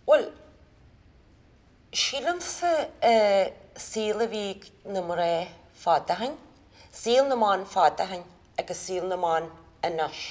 Bhuel, sílimse an saol a bhí ag na mná fad ó shin, saol na mban fad ó shin agus saol na mban anois.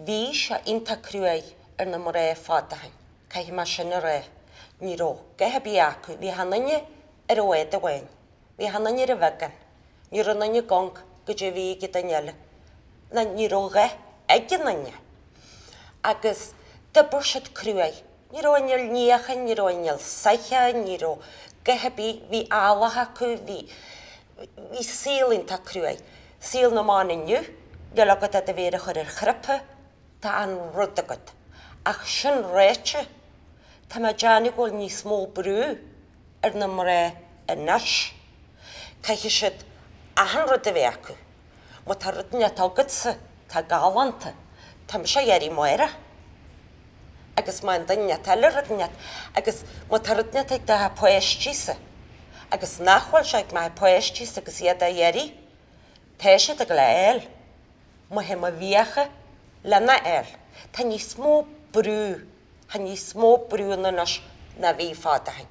Bhí sé iontach cruaidh ar na mná fad ó shin, caithfidh mé sin a rá. Ní raibh a dhath ar bith acu, bhí achan duine ar an bhád amháin Bhí achan duine ar an bheagán, ní raibh aon duine ag amharc goidé a bhí ag an duine eile, ná ní raibh a dhath ag aon duine. Agus d'oibir siad cruaidh. Ní raibh inneall níocháin, ní raibh inneall soithí, ní raibh a dhath ar bith, bhí eallach acu, bhí, bhí saol iontach cruaidh. Saol na mban inniu, níl agat ach do mhéar a chur ar chnaipe, tá an rud agat. Ach sin ráite, tá mé ag déanamh go bhfuil níos mó brú, ar na mná anois. Caithfidh siad achan rud a bheith acu. Má tá rud inteacht agatsa atá galánta, tá mise á iarraidh amárach. Agus má fhaigheann duine inteacht eile rud inteacht, agus má tá rud inteacht ag do chuid páistí-sa, agus nach bhfuil sé ag mo chuid páistí-sa agus iad á iarraidh, tá siad ag gabháil á fháil má théim i bhfiacha lena fháil. Tá níos mó brú Tá níos mó brú ann anois ná bhí fad ó shin.